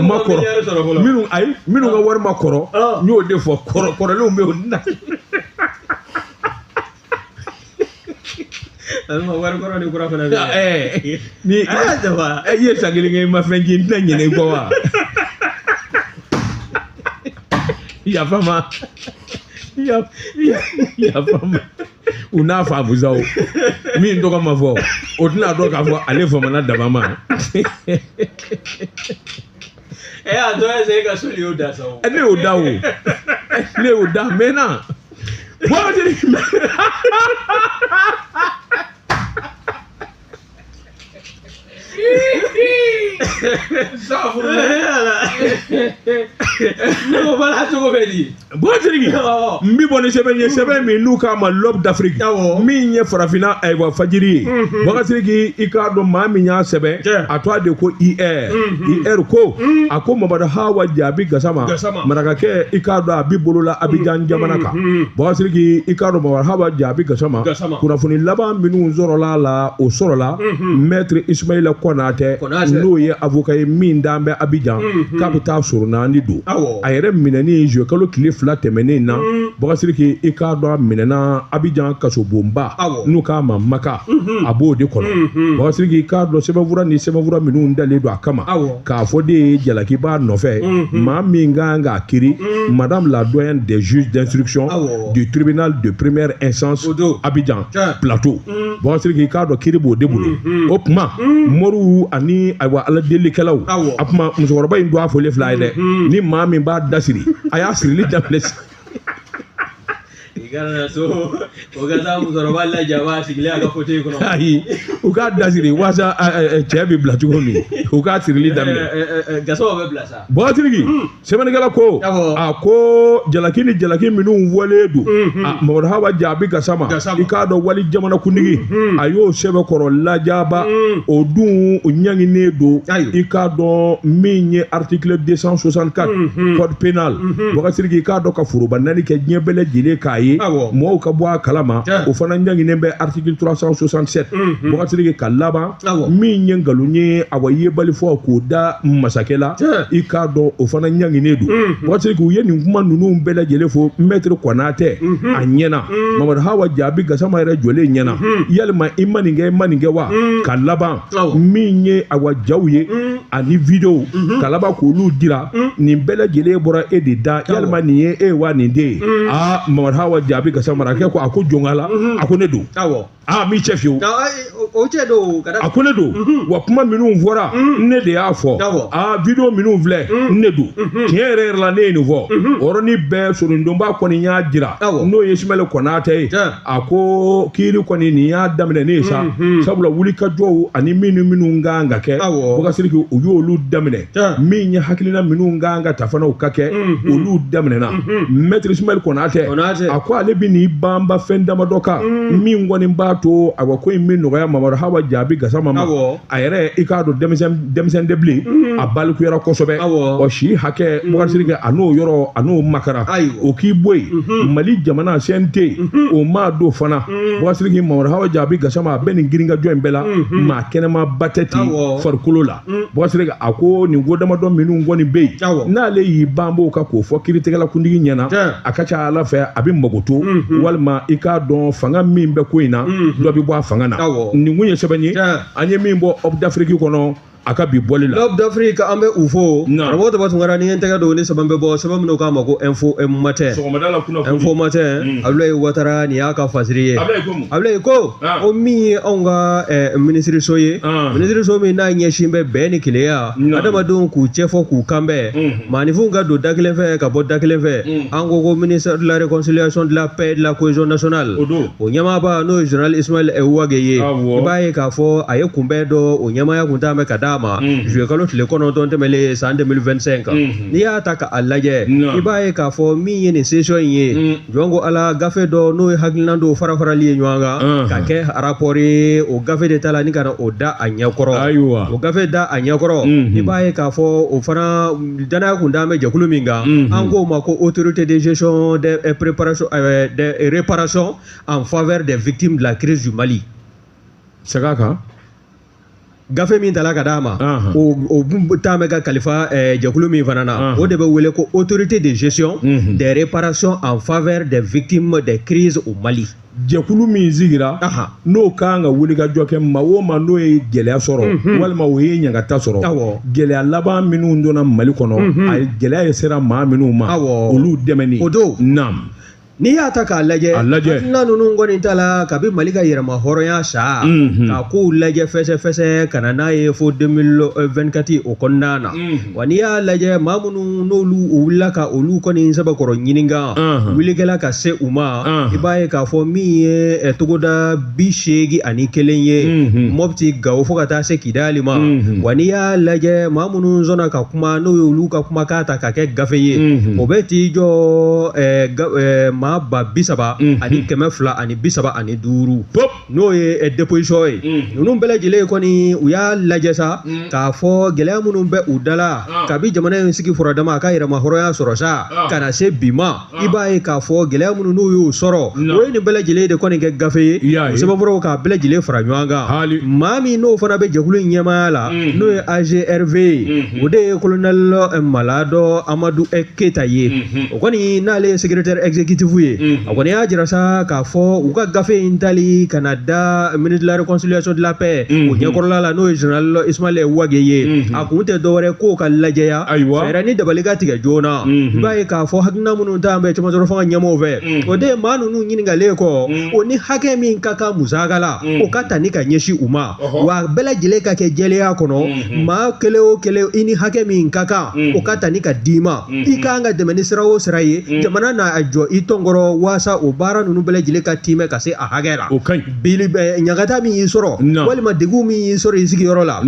A: ma kɔrɔ minnu ayi minnu ka wari ma kɔrɔ n y'o de fɔ kɔrɔ kɔrɔlenw bɛ yen
B: na. wari kɔrɔ ni kura fana bɛ yen.
A: ni i ye san kelen kɛ i ma fɛn ci n tɛna ɲinɛ i kɔ wa. yafa n ma yafa n ma. u n'a faamu sa o min tɔgɔ ma fɔ o tɛna dɔn k'a fɔ ale famana dama ma
B: ɛ a dɔ ye se ka so de y'o da sa o ne y'o da
A: o ne y'o da mɛ na bɔn n bɛ bɔ ni sɛbɛn ye sɛbɛn min n'u k'a ma l'Aube d'Afrique min ye farafinna ayiwa fajiri ye bakasiriki i k'a dɔn maa min y'a sɛbɛn a tɔgɔ de ko i ɛ i ɛri ko a ko mamadu hawa jaabi gasama marakakɛ i k'a dɔn a bɛ bolo la abijan jamana kan bakasiriki i k'a dɔn mamadu hawa jaabi gasama kunnafoni laban minnu sɔrɔla a la o sɔrɔla mɛtiri ismaila kɔnatɛ Konatɛ. n'o ye avoka ye min dan bɛ abijan k'a bɛ taa soro naani don Awɔ. a yɛrɛ minɛni zuluye kalo tile fila tɛmɛnen na bagasiriki i k'a dɔn a minɛna abijan kasobonba Awɔ. n'u k'a ma maka a b'o de kɔnɔ bagasiriki i k'a dɔn sɛbɛnfura ni sɛbɛnfura minnu dalen don a kama Awɔ. k'a fɔ de ye jalaki b'a nɔfɛ maa min ka kan k'a kiri madame la doyenne des juges d'instruction Awɔ. du tribunal de première instance Abidjan plateau mm. bakasiriki i k'a dɔn kiiri b'o de bolo mm-hmm. o tuma mm. moriw ani ayiwa ala delikɛlaw a tuma musokɔrɔba in don a fɔlen fila ye dɛ mm-hmm. ni maa min b'a da siri a y'a sirili daminɛ kana
B: so o ka taa musokɔrɔba lajɛ a b'a sigilen a ka fotɛyi kɔnɔ ayi u k'a
A: da siri waasa cɛ bɛ bila cogo min u k'a sirili daminɛ gasama bɛ bila sa
B: bakasiriki
A: sɛbɛnnikɛla ko a ko jalaki ni jalaki minnu wale don mamadu hawa jaabi gasama i k'a dɔn walijamana kuntigi a y'o sɛbɛkɔrɔ lajaba o dun ɲanginen don i k'a dɔn min ye article 264 code pénal bakasiriki i k'a dɔn ka foroba neni kɛ diɲɛ bɛɛ lajɛlen k'a ye mɔgɔw ka bɔ a kalama o fana ɲanginen bɛ article 367 bakasiriki ka laban min ye nkalon ye awa yebali fɔ k'o da masakɛ la i k'a dɔn o fana ɲanginen don mhm. bakasiriki u ye nin kuma ninnu bɛɛ lajɛlen fɔ mɛtiri kɔnatɛ mhm. a ɲɛna mhm. mamadu hawa jaabi gasama yɛrɛ jɔlen ɲɛna yalima i ma nin kɛ i ma nin kɛ wa ka laban min ye awa jaw ye ani videow ka laban k'olu jira nin bɛɛ lajɛlen bɔra e de da yalima nin ye e wa nin t'e ye aa mamadu hawa jaabi gasama marakakɛ ko a ko jɔnkala a ko ne don aa m'i cɛ fiyewu o cɛ
B: don ka a ko ne don
A: mhm. wa kuma minnu fɔra mhm. ne de y'a fɔ aa video minnu filɛ mhm. ne don tiɲɛ yɛrɛ yɛrɛ la ne ye nin fɔ o yɔrɔnin bɛɛ sorondonba kɔni y'a jira n'o ye ismaël konatɛ ye a ko kiiri kɔni nin y'a daminɛnen ye sa sabula wulikajɔw ani minnu minnu kan ka kɛ bokar siriki u y'olu daminɛ min ye hakilina minnu kan ka ta fana u ka kɛ mhm. olu daminɛna mhm. maître ismaël konatɛ a ko ale bɛ n'i banba fɛn damadɔ kan mhm. min kɔni b'a to a ko in bɛ nɔgɔya mamadu hawa jaabi gasama ma a yɛrɛ i k'a dɔn denmisɛn tɛ bilen a balikuyara kosɛbɛ o si hakɛ bokar siriki a n'o yɔrɔ a n'o makara o k'i bɔ yen mali jamana CNT o maa don fana bokar siriki mamadu hawa jaabi gasama a bɛ nin girinkajɔ in bɛɛ la maa kɛnɛmanba tɛ ten farikolo la Mm. bokar siriki a ko nin ko damadɔ minnu kɔni bɛ yen n'ale y'i banb'o kan k'o fɔ kiritigɛlakuntigi ɲɛna a ka ca a la fɛ a bɛ makoto mm-hmm. walima i k'a dɔn fanga min bɛ ko in na mm-hmm. dɔ bɛ bɔ a fanga na nin kun ye sɛbɛn ye an ye min bɔ aube d'afrique kɔnɔ a ka bi bɔli la l'aube d'afrique an bɛ
B: u fo karamɔgɔ daba tunkara ni n tɛgɛ don ni sɛbɛn bɛ bɔ sɛbɛn min u k'a ma ko info matin info matin mm. abulayi watara nin y'a ka fasiri ye Ablaye ko ah. o min ye anw ka eh, minisiriso ye ah. minisiriso min n'a ɲɛsin bɛ bɛn ni kelenya adamadenw k'u cɛfɔ k'u kanbɛn mm. maanifinw ka don da kelen fɛ ka bɔ da kelen fɛ mm. an ko ko ministère de la réconciliation de la paix de la cohésion nationale o ɲɛmaaba n'o ye général ismaël wage ye ah, i b'a ye k'a fɔ a ye kunbɛn dɔ o ɲɛmaya kun talen bɛ ka d'a ma mm. juillet kalo tile kɔnɔntɔn tɛmɛlen san 2025 mm-hmm. n'i y'a ta k'a lajɛ i b'a ye k'a fɔ min ye nin session in ye jɔn ko ala gafe dɔ n'o ye hakilinan dɔw fara farali ye ɲɔgɔn kan Anhan. ka kɛ rapport ye o gafe de tala ni ka na o da a ɲɛkɔrɔ Ayiwa. o gafe da a ɲɛkɔrɔ Mhm. i b'a ye k'a fɔ o fana danaya kun dalen bɛ jɛkulu min kan Mhm. an k'o ma ko autorité de gestion de eh, préparation eh, de eh, réparation en faveur des victimes de la crise du Mali sɛg'a
A: kan
B: gafe min tala ka d'a ma o talen bɛ ka kalifa eh, jɛkulu min fana na o de bɛ wele ko autorité de gestion mhm. des réparations en faveur des victimes des crises au Mali jɛkulu min
A: sigira n'o ka kan ka wulikajɔ kɛ maa o maa n'o ye gɛlɛya sɔrɔ mhm. walima o ye ɲangata sɔrɔ gɛlɛya laban minnu donna mali kɔnɔ mhm. a gɛlɛya in sera maa minnu ma olu dɛmɛni o
B: don
A: naamu
B: N'i y'a ta k'a lajɛ hakilina ninnu kɔni tala kabi mali ka yɛrɛmahɔrɔnya san ka kow lajɛ fɛsɛfɛsɛ ka na n'a ye fo 2024 o kɔnɔna na wa n'i y'a lajɛ maa minnu n'olu u wulila ka olu kɔni sɛbɛkɔrɔ ɲininka wuli kɛla ka se u ma i b'a ye k'a fɔ min ye togoda bi seegi ani kelen ye mɔti gawo fo ka taa se kidali ma wa n'i y'a lajɛ maa minnu sɔnna ka kuma n'o ye olu ka kumakan ta ka kɛ gafe ye o bɛ t'i jɔ maa ba bi saba ani kɛmɛ fila ani bi saba ani duuru n'o ye déposition ye ninnu bɛɛ lajɛlen kɔni u y'a lajɛ sa k'a fɔ gɛlɛya minnu bɛ u dala kabi jamana in sigi furadama a ka yɛrɛmahɔrɔnya sɔrɔ sa ka na se bi ma i b'a ye k'a fɔ gɛlɛya minnu n'u y'o sɔrɔ o ye nin bɛɛ lajɛlen de kɔni kɛ gafe ye o sɛbɛnfuraw k'a bɛɛ lajɛlen fara ɲɔgɔn kan maa min n'o fana bɛ jɛkulu in ɲɛmaaya la n'o ye agrv ye o de ye kolonɛli malado amadu keyita ye o kɔni n'ale ye secrétaire exécutif ye a kɔni y'a jira sa k'a fɔ u ka gafe in tali ka na da ministre de la réconciliation de la paix o ɲɛkɔrɔla la n'o ye zenerali ismaɛlɛ wage ye kun tɛ dɔwɛrɛ k'o ka lajɛya ayiwa fɛɛrɛ ni dabali ka tigɛ joona i b'a ye k'a fɔ hakilina minnu t'an bɛ caman sɔrɔ fanga ɲɛmɔgɔw fɛ o de ye maa ninnu ɲininkalen kɔ o ni hakɛ min ka kan musaka la o ka ta ni ka ɲɛsin u ma wa bɛɛ lajɛlen ka kɛ jɛlenya kɔnɔ maa kelen o kelen i ni hakɛ min ka kan o ka ta ni ka d'i ma i ka kan ka dɛmɛ ni sira o sira ye jamana n'a jɔ i tɔnkɔrɔ waasa o baara ninnu bɛɛ lajɛlen ka tiimɛ ka se a hakɛ la ɲagata min y'i sɔrɔ walima degun min y'i sɔrɔ i sigiyɔrɔ la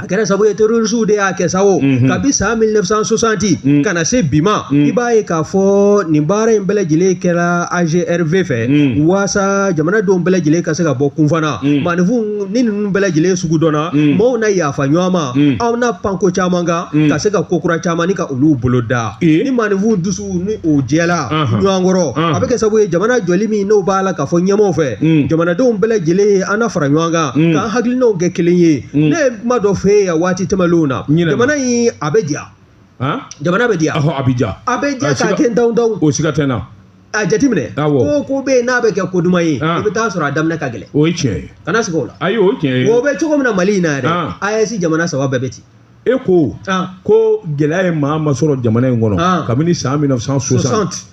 B: a kɛra sabu ye terorisiw de y'a kɛ sa o mhm. kabi san 1960 mhm. ka na se bi ma mhm. i b'a ye k'a fɔ nin baara in bɛɛ lajɛlen kɛra agrv fɛ waasa jamanadenw bɛɛ lajɛlen ka se ka bɔ kunfa na maanifinw ni ninnu bɛɛ lajɛlen sugu dɔnna maaw na yafa ɲɔgɔn ma aw na pan ko caman kan ka se ka ko kura caman ni ka olu boloda ni maanifinw dusu ni o jɛla ɲɔgɔn kɔrɔ a bɛ kɛ sabu ye jamana jɔli min n'o b'a la k'a fɔ ɲɛmɔgɔw fɛ jamanadenw bɛɛ lajɛlen an na fara ɲɔgɔn kan k'an hakilinaw kɛ kelen ye mm. ne ye kuma dɔ f'e ye waati tɛmɛnlenw na jamana in a bɛ diya jamana bɛ diya a bɛ diya a bɛ diya k'a kɛ daw daw o siga tɛ n na
A: a jateminɛ
B: ko ko bɛ yen n'a bɛ kɛ ko duman ye i bɛ taa sɔrɔ a daminɛ ka gɛlɛn o ye tiɲɛ ye kana
A: siga o la ayi o
B: ye tiɲɛ ye o
A: bɛ cogo min na mali in
B: na yɛrɛ AES jamana saba bɛɛ bɛ ten e ko
A: ko gɛlɛya ye maa ma sɔrɔ jamana in kɔnɔ kabini san 1960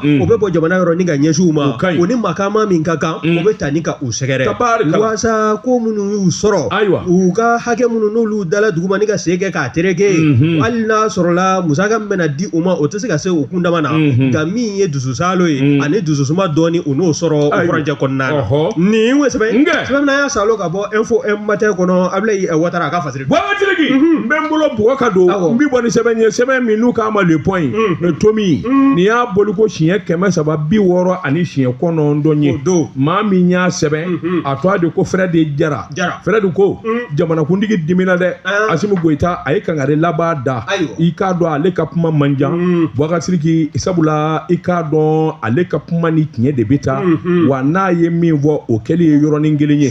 B: o bɛ bɔ jamana yɔrɔ ni ka ɲɛsin u ma o ni makama min ka kan o bɛ ta ni ka u sɛgɛrɛ waasa ko minnu y'u sɔrɔ u ka hakɛ minnu n'olu dala duguma ni ka sen kɛ k'a tereke hali n'a sɔrɔla musaka min bɛna di u ma o tɛ se ka se u kun dama na nka min ye dususalo ye ani dususuma dɔɔni u n'o sɔrɔ o furancɛ kɔnɔna na nin ye sɛbɛn sɛbɛn y'a salo ka bɔ info matin kɔnɔ a bɛ wata a ka Bɔgasiriki n bɛ
A: n bolo bugɔ ka don n bɛ bɔ ni sɛbɛn ye sɛbɛn min n'u k'a ma le point tomi nin y'a bɔli ko siɲɛ kɛmɛ saba bi wɔɔrɔ ani siɲɛ kɔnɔntɔn ye maa min y'a sɛbɛn a tɔgɔ de ko fred jara fred ko jamanakuntigi dimina dɛ asimu goyita a ye kangari laban da i k'a dɔn ale ka kuma man jan bɔgasiriki sabula i k'a dɔn ale ka kuma ni tiɲɛ de bɛ taa wa n'a ye min fɔ o kɛlen ye yɔrɔnin kelen ye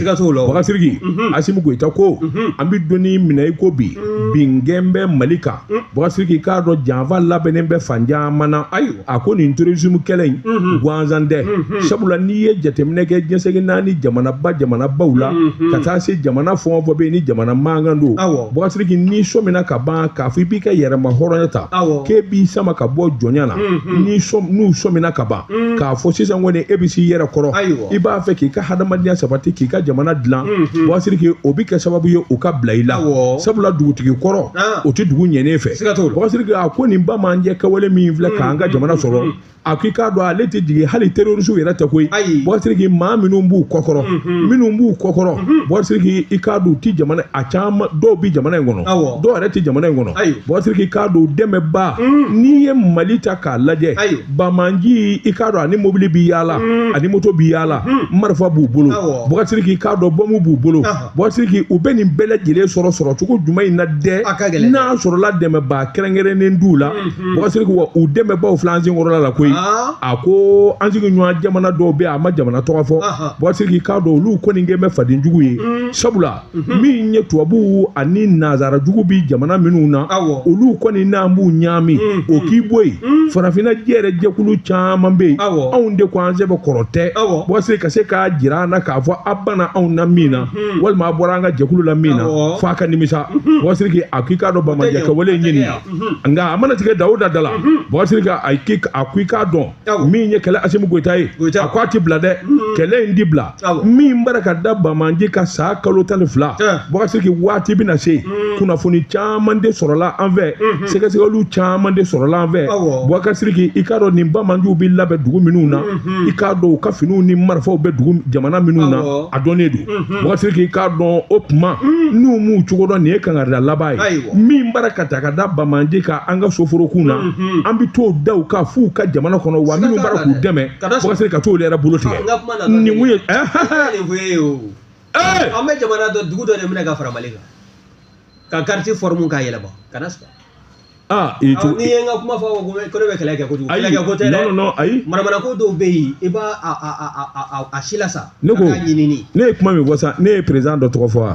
A: sigi mhm. asimu goyita ko mhm. an bɛ don min na i ko bi mm. binkan bɛ mali kan mm. bɔgasiriki k'a dɔn janfa labɛnnen bɛ fan caman na ayiwa a ko nin terrorisme kɛlɛ in mhm. gansan tɛ sabula n'i ye jateminɛ kɛ diɲɛ seleke naani jamanaba jamanabaw la ka taa se jamana fɛn o fɛn bɛ yen ni jamana mankan don bɔgasiriki n'i sɔmina ka ban k'a fɔ i b'i ka yɛrɛma hɔrɔnya ta k'e b'i sama ka bɔ jɔnya na n'u sɔmina ka ban mm. k'a fɔ sisan kɔni e bɛ s'i yɛrɛ kɔrɔ i b'a fɛ k'i ka hadamadenya sabati k'i ka jamana dilan mm-hmm. bɔgasiriki o bɛ kɛ sababu ye u ka bila i la sabula dugutigi kɔrɔ ah. o tɛ dugu ɲɛnen fɛ bɔgasiriki a ko nin banbaanci kɛwale min filɛ mm-hmm. k'an ka jamana sɔrɔ mm-hmm. a k'i k'a dɔn ale tɛ jigin hali terorisiw yɛrɛ tɛ koyi bɔgasiriki maa minnu b'u kɔkɔrɔ minnu b'u kɔkɔrɔ bɔgasiriki i k'a dɔn u tɛ jamana a caman dɔw bɛ jamana in kɔnɔ dɔw yɛrɛ tɛ jamana in kɔnɔ bɔgasiriki i k'a dɔn dɛmɛba mm. n'i ye mali ta k'a lajɛ Banbaanci i k'a dɔn a ni mobili bɛ yaala mm. a ni moto bɛ yaala mm. marifa b'u bolo bɔgasiriki i k'a dɔn bɔmu b'u bolo bɔgasiriki u bɛ nin bɛɛ lajɛlen sɔrɔ sɔrɔcogo jumɛn in na dɛ n'a sɔrɔla dɛmɛba kɛrɛnkɛrɛnnen t'u la mm-hmm. bɔgasiriki wa u dɛmɛbaw filɛ an senkɔrɔla la koyi ah. a ko an sigiɲɔgɔn jamana dɔw bɛ a ma jamana tɔgɔ fɔ bɔgasiriki k'a dɔn olu kɔni kɛ bɛ faden jugu ye mm. sabula Mhm. min ye tubabuw ani nazara jugu bi jamana minnu na olu kɔni n'an b'u ɲaami mhm. o k'i bɔ yen mhm. farafinna yɛrɛ jɛkulu caman bɛ yen anw de ko an sɛbɛ kɔrɔ tɛ bɔgasiriki ka se k'a jira an na k'a fɔ a banna anw na min na walima a bɔra an ka jɛkulu la min na f'a ka nimisa bɔgasiriki a k'i k'a dɔn banbaanci kɛwale ɲini nka a mana tigɛ dawo da da la bɔgasiriki a k'i k'a dɔn min ye kɛlɛ asimu goyita ye a ko a ti bila dɛ mm-hmm. kɛlɛ in ti bila min b'a ra ka da banbaanci kan san kalo tan ni fila bakasiriki waati bɛna se mm-hmm. kunnafoni caman de sɔrɔla an fɛ mm-hmm. sɛgɛsɛgɛliw caman de sɔrɔla an fɛ bakasiriki i k'a dɔn nin banbaanciw bɛ labɛn dugu minnu na i k'a dɔn u ka finiw ni marifaw bɛ dugu jamana minnu na a dɔnnen don bakasiriki i k'a dɔn o tuma n'u m'u cogo dɔn nin ye kangarida laban ye min b'a ra ka ta ka da banbaanci kan an ka soforokunw na Hmm. an bɛ t'o da u kan f'u ka jamana kɔnɔ wa minnu b'a ra k'u dɛmɛ bɔgasiriki ka t'olu yɛrɛ bolo tigɛ nin kun ye an
B: bɛ jamana dɔ dugu dɔ de minɛ ka fara mali kan ka kariti fɔrɔmu k'a yɛlɛma kana sɔrɔ aa i to n'i ye n ka kuma fɔ ko ko ne bɛ kɛlɛ kɛ kojugu kɛlɛ kɛ ko tɛ dɛ non non ayi manamanako
A: dɔw bɛ
B: yen i b'a a a a a a si la sa ne ko ne ye kuma min fɔ sisan
A: ne ye président dɔ tɔgɔ fɔ wa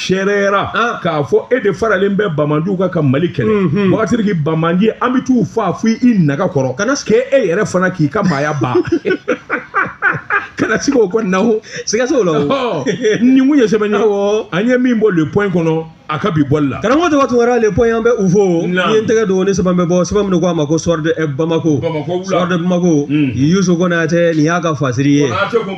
A: sɛɛrɛyara ah. k'a fɔ e de faralen bɛ banbaganciw kan ka mali kɛlɛ mhm. wagatiki banbaganci an bɛ t'u faga fo i naga kɔrɔ kana kɛ e yɛrɛ fana k'i ka maaya ba kana sigi o kɔni na o sigaso la o
B: nin kun ye
A: sɛbɛn ye an ye min bɔ le point kɔnɔ a ka bi bɔli la karamɔgɔ tɔgɔ tun wɛrɛ le
B: point an bɛ u fo n ye n tɛgɛ don ni sɛbɛn bɛ bɔ sɛbɛn min ko a ma ko soir de bamako soir de bamako yusu konate nin y'a ka fasiri ye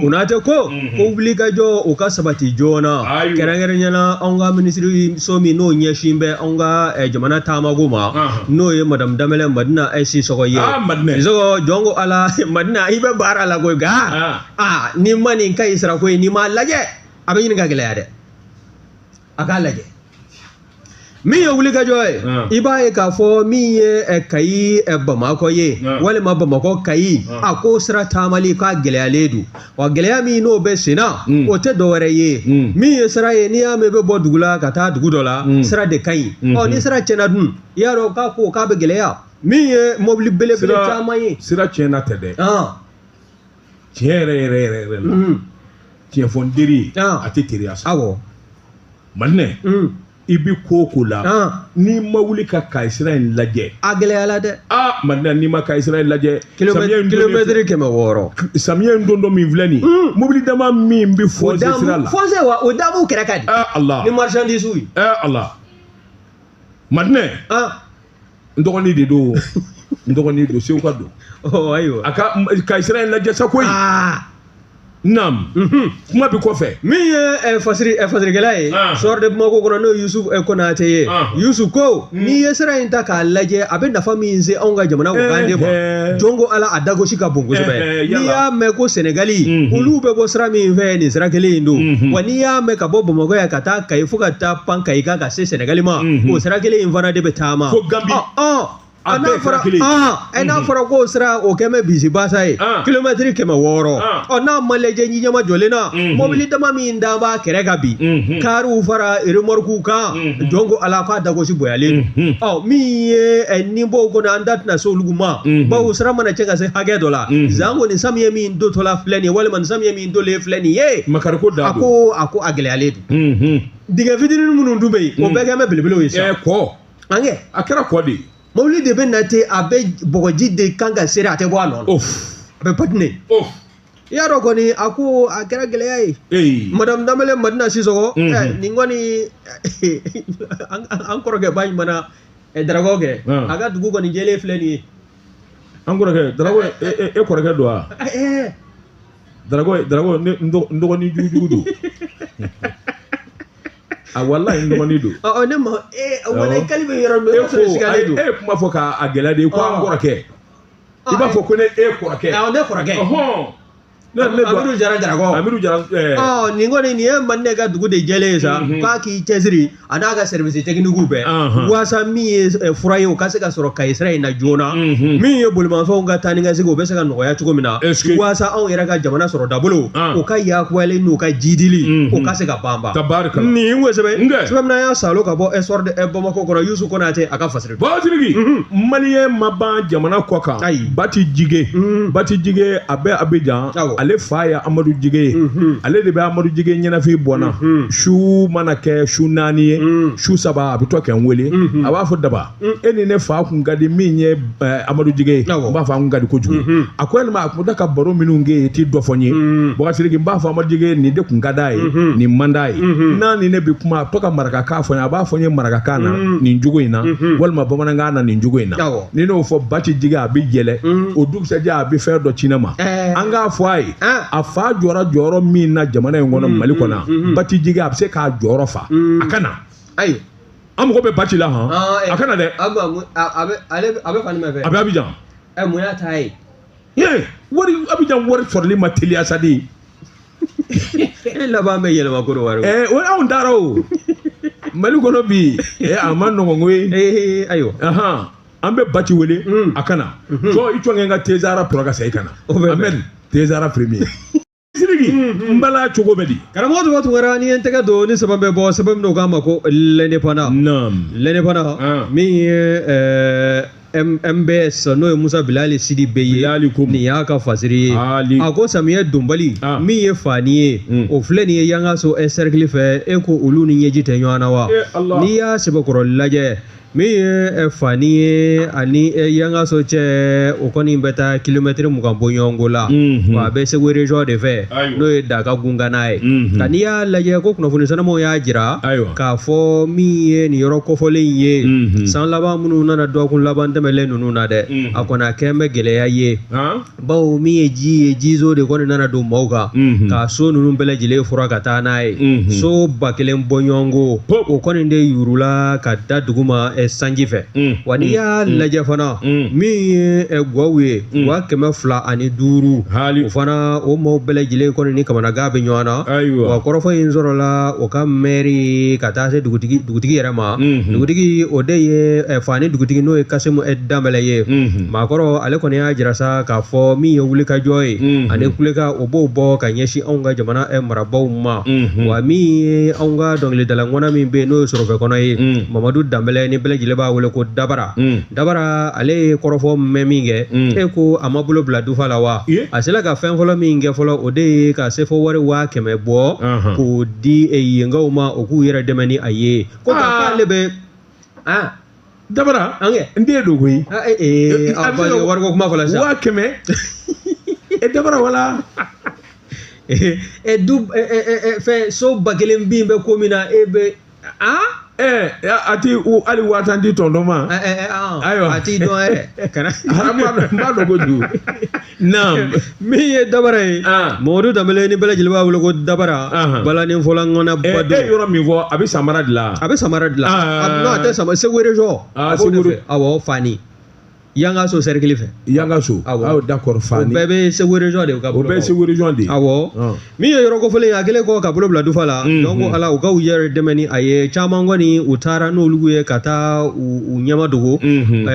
B: konate ko ko wulikajɔ o ka sabati joona kɛrɛnkɛrɛnnenya la anw ka minisiriso min n'o ɲɛsin bɛ anw ka eh, jamana taamako ma n'o ye madamu danbɛlɛ madina ah sisɔgɔ ye ah, sɔgɔ jɔn ko ala madina i bɛ baara la koyi nka ah. ah, n'i ma nin kayi sira ko in n'i m'a lajɛ a bɛ ɲini ka gɛlɛya dɛ a k'a lajɛ min ye wulikajɔ ye i b'a ye k'a fɔ min ye kayi bamakɔ ye walima bamakɔ kayi a ko sira taamali k'a gɛlɛyalen don wa gɛlɛya min n'o bɛ sen na o tɛ dɔwɛrɛ ye min ye sira ye n'i y'a mɛn i bɛ bɔ dugu la ka taa dugu dɔ la sira de ka ɲi ɔ ni sira tiɲɛna dun i y'a dɔn k'a ko k'a bɛ gɛlɛya min ye mobili belebele caman ye sira tiɲɛna tɛ dɛ
A: tiɲɛ yɛrɛ yɛrɛ yɛrɛ yɛrɛ la mm. tiɲɛ fɔ n teri ye a tɛ teriya sa awɔ madinɛ mm. i bi ko o ko la n'i ma wuli ka kayisira in lajɛ a gɛlɛyala dɛ
B: aa madinɛ n'i ma
A: kayisira in lajɛ
B: kilomɛtiri kɛmɛ wɔɔrɔ samiyɛ in dontɔ
A: min filɛ nin mm. mobili dama min bɛ fɔnse sira la fɔnse wa o da b'u kɛrɛ
B: kan bi ɛ ala ni marisandisiw
A: ye
B: ɛ ala
A: madinɛ n dɔgɔnin de don n dɔgɔnin don seguka don oh, ayiwa a
B: ka kayi sira
A: in lajɛ sa koyi ah. Nam. Mhm. Kuma b'i kɔfɛ. Min ye eh, fasiri
B: eh, fasirikɛla ye. Ah. Soir de Bamako kɔnɔ n'o ye Yusuf eh, Konate ye. Ah. Yusuf ko mm. n'i ye sira in ta k'a lajɛ a bɛ nafa min se anw ka jamana ko kan de ma. Jɔn ko ala a dagosi ka bon kosɛbɛ. N'i y'a mɛn ko Senegali mhm. olu bɛ bɔ sira min fɛ nin sira kelen in don. Mhm. Wa n'i y'a mɛn ka bɔ Bamakɔ yan ka taa Kayi fo ka taa pan Kayi kan ka se sɛnɛgali ma o sira kelen in fana de bɛ taama fo
A: ganbi a
B: n'a fɔra ɛ n'a fɔra k'o sira o kɛ bɛ bisimilabasa ye kilomɛtiri kɛmɛ wɔɔrɔ ɔ n'a ma lajɛ ji ɲɛma jɔlen na mɔbili dama min da b'a kɛrɛ kan bi kariw fara remɔrikuw kan jɔn ko ala k'a dagosi bonyalen ɔ min ye nin b'o kɔnɔ an da tɛna se olu ma bawo sira mana tiɲɛ ka se hakɛ dɔ la zan ko nin samiyɛ min dontɔla filɛ nin ye walima nin samiyɛ min donnen filɛ nin ye makariko da a ko
A: a ko a
B: gɛlɛyalen don dingɛ fitinin minnu dun bɛ yen o bɛɛ kɛ bɛ belebelew ye sa ɛɛ kɔ an kɛ a kɛra kɔ
A: de ye mobili de bɛ na
B: ten a bɛ bɔgɔji de kan ka seri a tɛ bɔ a nɔ la of a bɛ patine of i y'a dɔn kɔni a ko a kɛra gɛlɛya ye ee madame danbɛlɛ madina sisɔgɔ Mhm. eh, nin kɔni an an kɔrɔkɛba ɲuman eh, darakaw kɛ Ah. a ka dugu kɔni jɛlen filɛ nin ye an
A: kɔrɔkɛ darako e e- e kɔrɔkɛ don wa Eh, eh, Dragɔn dragɔn n dɔgɔnin jugujugu don a walayi n dɔgɔnin don ɔ ne ma
B: walayi kali bɛ yɔrɔ min e ko e kuma fɔ
A: k'a gɛlɛya de ye ko an kɔrɔkɛ i b'a fɔ ko ne e kɔrɔkɛ ne
B: kɔrɔkɛ ne amidu jara dragɔn amidu jara
A: nin kɔni nin
B: ye mande ka dugu de jɛlen ye sa k'a k'i cɛsiri a n'a ka sɛriwisi tɛkinikiw bɛɛ walasa min ye eh, fura ye o ka se ka sɔrɔ kayi sira in na joona mhm. min ye bolimafɛnw ka taa ni ka segin o bɛ se ka nɔgɔya cogo min na walasa anw yɛrɛ ka jamana sɔrɔ dabolo ah. o ka yakubali n'u ka jidili mhm. o ka se ka banba nin sɛbɛn y'a salo ka bɔ eh, soir de bamakɔ kɔnɔ yusu konatɛ a ka fa
A: Basiriki maliyɛn ma ban jamana kɔkan ayi bati jige bati jige a bɛ abijan ale fa ye amadu jige ye ale de bɛ amadu jige ɲɛnafin bɔ n na su mana kɛ su naani ye su saba a bɛ to ka n wele a b'a fɔ daba e ni ne fa kun ka di min ye amadu jige ye n b'a fɔ an kun ka di kojugu a ko yalima a kun da ka baro minnu kɛ i tɛ dɔ fɔ n ye mm. bakasiriki n b'a fɔ amadu jige nin de kun ka d'a ye mm-hmm. nin man d'a ye mm-hmm. n'a ni ne bɛ kuma a bɛ to ka marakakan fɔ n ye a b'a fɔ n ye marakakan na mm. nin cogo in na mm-hmm. walima bamanankan na nin cogo in na ni n'o fɔ bati jige a bɛ yɛlɛ mm. o dugusajɛ a bɛ fɛn dɔ ci ne ma eh. an k'a fɔ a ye ah. a fa jɔra jɔyɔrɔ min na jamana in kɔnɔ mali kɔnɔ bati jige a bɛ se k'a jɔyɔrɔ fa a ka na ayi an mago bɛ bati la hɔn Ah, eh. a ka na dɛ a bɛ a
B: bɛ ale a bɛ fan jumɛn fɛ a bɛ abijan
A: ɛ mun y'a ta
B: ye ye wari
A: abijan wari sɔrɔli ma teliya sa de
B: e laban bɛ yɛlɛma kɔdiwari ɛɛ o anw taara
A: o mali kɔnɔ bi ɛɛ a man nɔgɔn koyi ee ayiwa
B: ahan an bɛ bati
A: wele Mm. a ka na Mhm. jɔ i jɔnkɛ n ka tezara tora ka segin ka na O bɛ bɛn. amen tezara premier siriki n bala cogo bɛ di karamɔgɔ tuma tungara
B: ne ye n tɛgɛ don nin sɛbɛn bɛ bɔ sɛbɛn min na u k'a ma ko l'indépendant l'indépendant min ye mbs n'o ye musa bilali sidibe ye nin y'a ka fasiri ye a ko samiyɛ donbali min ye fani ye o filɛ nin ye yangaso ɛ sɛrikili fɛ e ko olu ni ɲɛji tɛ ɲɔgɔn na wa n'i y'a sɛbɛkɔrɔ lajɛ min ye fani ye ani yangaso cɛ o kɔni bɛ taa kilomɛtiri mugan bɔ ɲɔgɔnko la wa a bɛ segu région de fɛ n'o ye daka gunkanna ye nka n'i y'a lajɛ ko kunnafoni sanumanw y'a jira k'a fɔ min ye nin yɔrɔ kofɔlen ye san laban minnu nana dɔgɔkun laban tɛmɛnlen ninnu na dɛ a kɔni a kɛlen bɛ gɛlɛya ye bawo min ye ji ye ji zo de kɔni nana don maaw kan mhm. ka so ninnu bɛɛ lajɛlen furan ka taa n'a ye mhm. so ba kelen bɔ ɲɔgɔnko o kɔni de yurula ka da duguma eh, sanji fɛ mhm. wa n'i y'a lajɛ fana min ye eh, gwaw ye wa kɛmɛ fila ani duuru o fana o maaw bɛɛ lajɛlen kɔni ni kamanagan bɛ ɲɔgɔn na wa kɔrɔfɔ in sɔrɔla o ka mɛri ka taa se dugutigi yɛrɛ ma dugutigi o de ye eh, fani dugutigi n'o ye kasimu danbɛlɛ ye maakɔrɔ ale kɔni y'a jira sa k'a fɔ min ye wulikajɔ ye mhm. ani kulekan u b'o bɔ ka ɲɛsin anw ka jamana eh, marabaaw ma mhm. wa min ye anw ka dɔnkilidala ŋana min bɛ yen n'o ye sɔrɔfɛ kɔnɔ ye mhm. mamadu danbɛlɛ ni bɛɛ lajɛlen b'a wele ko dabara dabara ale ye kɔrɔfɔ mɛn min kɛ e ko a ma bolo bila dufa la wa a sera ka fɛn fɔlɔ min kɛ fɔlɔ o de ye ka sefa wari waa kɛmɛ bɔ k'o di eh, yenkaw ma u k'u yɛrɛ dɛmɛ ni a ye ko k'ale ah. bɛ ah.
A: dabara an kɛ n den don koyi ah, eh, eh,
B: ah, wariko kuma fɔla sisan waa kɛmɛ
A: e eh, dabara wala ɛ du
B: fɛn so ba kelen bin bɛ ko min na e bɛ a.
A: ɛɛ a ti hali waa tan di tɔntɔn ma. ayiwa a t'i dɔn
B: yɛrɛ. kana n b'a dɔn
A: kojugu. naam min
B: ye dabara ye ah. mɔdu danbɛlɛ ni bɛɛ lajɛlen b'a wele ko dabara ah. balanin fɔla ŋana eh, ba don e yɔrɔ min fɔ a bɛ san
A: mara de la a bɛ san mara de la
B: ah. non a tɛ san mara segu région a b'o de fɛ awɔ fani yangaso sɛrikili fɛ yangaso awɔ
A: d'accord fani o bɛɛ bɛ segu région
B: de ka bolo o bɛɛ ye segu région de ye awɔ
A: min
B: ye yɔrɔ kofɔlen ye a kɛlen kɔ ka bolo bila dufa la mhm. donc ala u ka u yɛrɛ dɛmɛ ni a ye caman kɔni u taara n'olu ye ka taa u ɲɛmadogo mhm.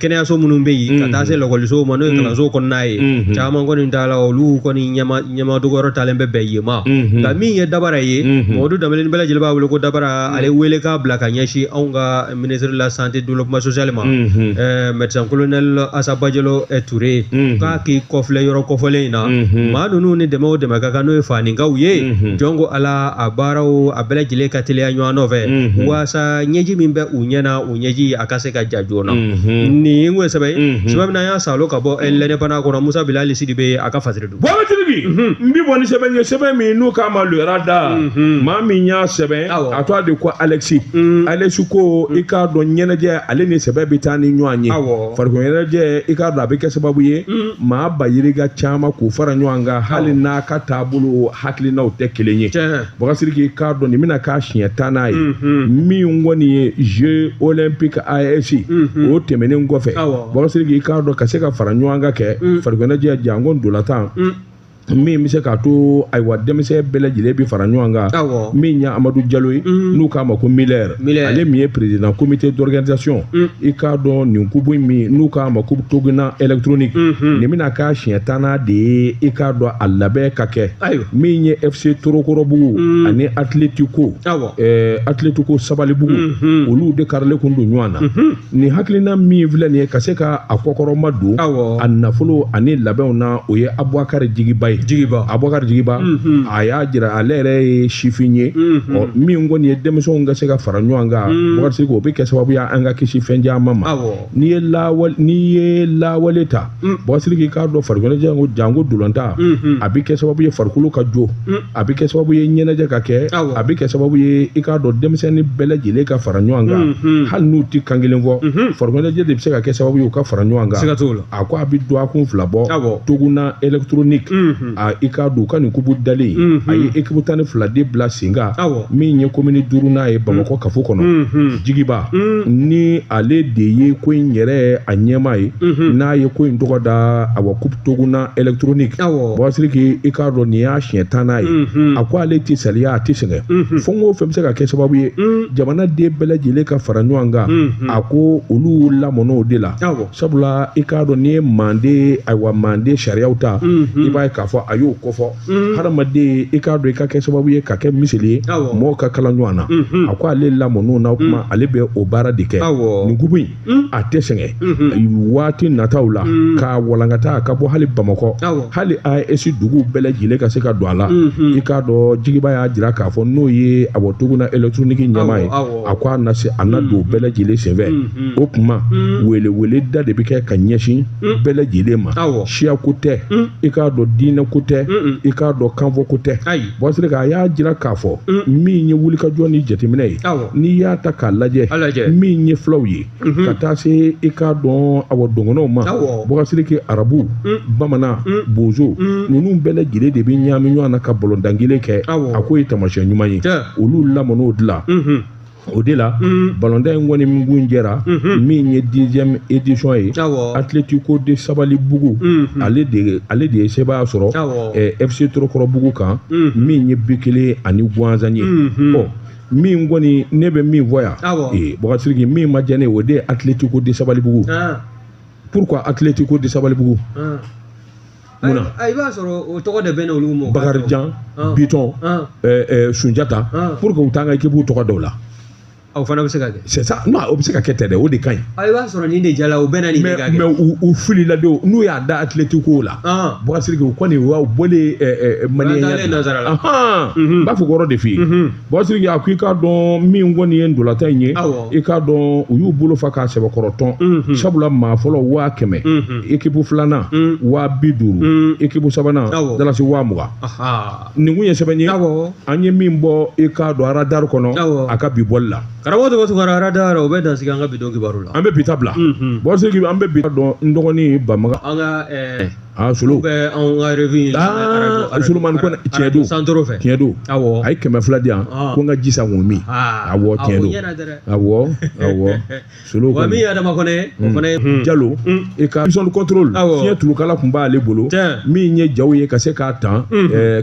B: kɛnɛyaso minnu bɛ yen ka mhm. taa se lakɔlisow ma n'o ye kalanso kɔnɔna ye caman kɔni taala olu kɔni ɲɛmadogoyɔrɔ talen bɛ bɛn yen ma nka min ye dabara ye mɔdu danbɛlɛ ni bɛɛ lajɛlen b'a wele ko dabara ale welekan bila ka ɲɛsin anw ka ministre de la santé développement social ma médecin colonel asa bajalo ture k'a k'i kɔfilɛ yɔrɔ kofɔlen in na maa ninnu ni dɛmɛ o dɛmɛ ka kan n'o ye faninkaw ye janko ala a baaraw a bɛɛ lajɛlen ka teliya ɲɔgɔn nɔfɛ waasa ɲɛji min bɛ u ɲɛ na o ɲɛji a ka se ka ja joona nin ye n ko sɛbɛn sɛbɛn min an y'a sɔrɔ ka bɔ l'indépendant kɔnɔ musa bilali sidibe a ka fasiri Bakari Siriki n
A: bi bɔ ni sɛbɛn ye sɛbɛn min n'u k'a ma Le Radar maa min y'a sɛbɛn Awɔ. a tɔgɔ de ko Alexi Alexi ko i k'a dɔn ɲɛnajɛ ale ni sɛbɛ bɛ taa ni ɲɔgɔn ye Awɔ. farikolo ɲɛnajɛ i k'a dɔn a bɛ kɛ sababu ye maa bayirika caman k'u fara ɲɔgɔn kan hali n'a ka taabolo hakilinaw tɛ kelen ye Tiɲɛ. Bakari Siriki i k'a dɔn nin bɛna k'a siɲɛ tannan ye min kɔni ye jeux olympiques AES o tɛmɛnen kɔfɛ Bakari Siriki i k'a dɔn ka se ka fara ɲɔgɔn kan kɛ farikoloɲɛnajɛ janko ntolatan min bɛ se k'a to ayiwa denmisɛn bɛɛ lajɛlen bɛ fara ɲɔgɔn kan min ye Amadu Jalo ye n'u k'a ma ko Miller ale min ye président comité d'organisation i k'a dɔn nin kupu in min n'u k'a ma ko Toguna électronique nin bɛna k'a siɲɛ tannan de ye i k'a dɔn a labɛn ka kɛ ayiwa min ye FC Torokorobugu mm. ani Atletico awɔ ɛɛ Atletico Sabalibugu mm -hmm. olu de karilen kun don ɲɔgɔn na mm -hmm. nin hakilina min filɛ nin ye ka se ka a kɔkɔrɔmadon awɔ a nafolo ani labɛnw na o ye Abubakari Jigiba ye Jigiba Abubakari Jigiba mm -hmm. a y'a jira ale yɛrɛ ye sifin ye mm -hmm. ɔ min kɔni ye denmisɛnw ka se ka fara ɲɔgɔn kan mm -hmm. Bakari Siriki o bɛ kɛ sababu ye an ka kisi fɛn caman ma awɔ n'i ye lawale n'i ye lawale ta mm. Bɔkasiriki i k'a dɔn farikolo ɲɛnajɛ ko janko ntolatan mm-hmm. a bɛ kɛ sababu ye farikolo ka jo mm. a bɛ kɛ sababu ye ɲɛnajɛ ka kɛ a bɛ kɛ sababu ye i k'a dɔn denmisɛnnin bɛɛ lajɛlen ka fara ɲɔgɔn kan mm-hmm. hali n'u tɛ kan kelen fɔ mm-hmm. farikolo ɲɛnajɛ de bɛ se ka kɛ sababu ye u ka fara ɲɔgɔn kan a ko a bɛ dɔgɔkun fila bɔ Toguna électronique a i k'a dɔn u ka nin kupu dalen mhm. a ye ekibu tan ni fila de bila sen kan min ye komini duurunan ye bamakɔ mhm. kafo kɔnɔ mhm. jigiba ni ale de ye ko in yɛrɛ a ɲɛmaa ye n'a ye ko in tɔgɔ da awa coupe toguna électronique bɔsiriki i k'a dɔn nin y'a siɲɛ tannan ye a ko ale tɛ saliya a tɛ sɛgɛn fɛn o fɛn bɛ se ka kɛ sababu ye jamanaden bɛɛ lajɛlen ka fara ɲɔgɔn kan a ko olu lamɔn'o de la sabula i k'a dɔn n'i ye manden ayiwa manden sariyaw ta i b'a ye k'a fɔ a y'o kofɔ hadamaden i k'a dɔn i ka kɛ sababu ye ka kɛ miseli ye mɔgɔw ka kala ɲɔgɔn na a ko ale lamɔn'o na kuma ale bɛ o baara de kɛ nin kupu in a tɛ sɛgɛn waati nataw la k'a walankata a ka bɔ hali bamakɔ hali AES duguw bɛɛ lajɛlen ka se ka don a la i k'a dɔn jigiba y'a jira k'a fɔ n'o ye awɔ Toguna électronique ɲɛmaa ye a ko a na se a na don bɛɛ lajɛlen senfɛ Mm. o tuma mm. wele wele da de bɛ kɛ ka ɲɛsin mm. bɛɛ lajɛlen ma siya ko tɛ i k'a dɔn diinɛ ko tɛ i k'a dɔn kanfɔ ko tɛ bɔsiri a y'a jira k'a fɔ min ye wulikajɔ ni jateminɛ ye n'i y'a ta k'a lajɛ min ye fulaw ye mm-hmm. ka taa se i k'a dɔn awa dɔgɔnɔw ma Bɔkasiriki arabu bamanan bozo ninnu bɛɛ lajɛlen de bɛ ɲaami ɲɔgɔn na ka balontan kelen kɛ a k'o ye taamasiyɛn ɲuman ye olu lamɔn'o de la mm-hmm. o de la balontan in kɔni min kuncɛra min ye dixième édition ye Atlético de Sabalibugu ale de ale de ye sebaaya sɔrɔ FC Torokɔrɔbugu kan min ye bi kelen ani gansan ye min kɔni ne bɛ min fɔ yan ee Bɔkasiriki min ma diya ne ye o de ye Atlético de Sabalibugu pourquoi Atlético de Sabalibugu munna i b'a
B: sɔrɔ o tɔgɔ de bɛ n'olu mɔ
A: bakarijan bitɔn sunjata pourquoi u t'an ka ekipu tɔgɔ d'u la o fana bɛ se
B: ka kɛ c'est ça non o bɛ se ka
A: kɛ tɛ dɛ o de ka ɲi i b'a sɔrɔ nin de
B: jala o bɛɛ na nin de ka kɛ mais u u filila
A: de n'u y'a da Atlético la Bɔkasiriki u kɔni u bɔlen maliyɛnya nazara la n b'a fɔ o yɔrɔ de f'i ye Bɔsiriki a ko i k'a dɔn min kɔni ye ntolatan in ye i k'a dɔn u y'u bolo fa k'a sɛbɛkɔrɔtɔn mhm. sabula maa fɔlɔ waa kɛmɛ ekipu mhm. filanan mhm. waa bi duuru ekipu sabanan dalasi waa mugan nin kun ye sɛbɛn ye an ye min bɔ i k'a dɔn aradari kɔnɔ a ka bi bɔli la karamɔgɔ tɔgɔ tɔgɔ
B: aradari o bɛ dansigi an ka bi don kibaru la an bɛ bi ta bila
A: bɔsiri an bɛ bi dɔn n dɔgɔnin bamaga an ka
B: aa sulu bɛ
A: anw ka
B: revi aa sulumani
A: ko tiɲɛ don santoro fɛ tiɲɛ
B: don awɔ a
A: ye kɛmɛ fila di yan ko n ka ji san k'o min awɔ tiɲɛ don awɔ awɔ sulu ko min ye adama kɔnɛ
B: o fana ye jalo i
A: ka vision control fiɲɛ tulukala tun b'ale bolo min ye jaw ye ka se k'a t'an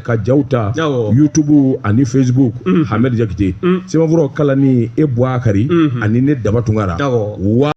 A: ka jaw ta youtube ani facebook hamɛdi jakite sɛbɛnfuraw kalanni e buakari ani ne daba tunkara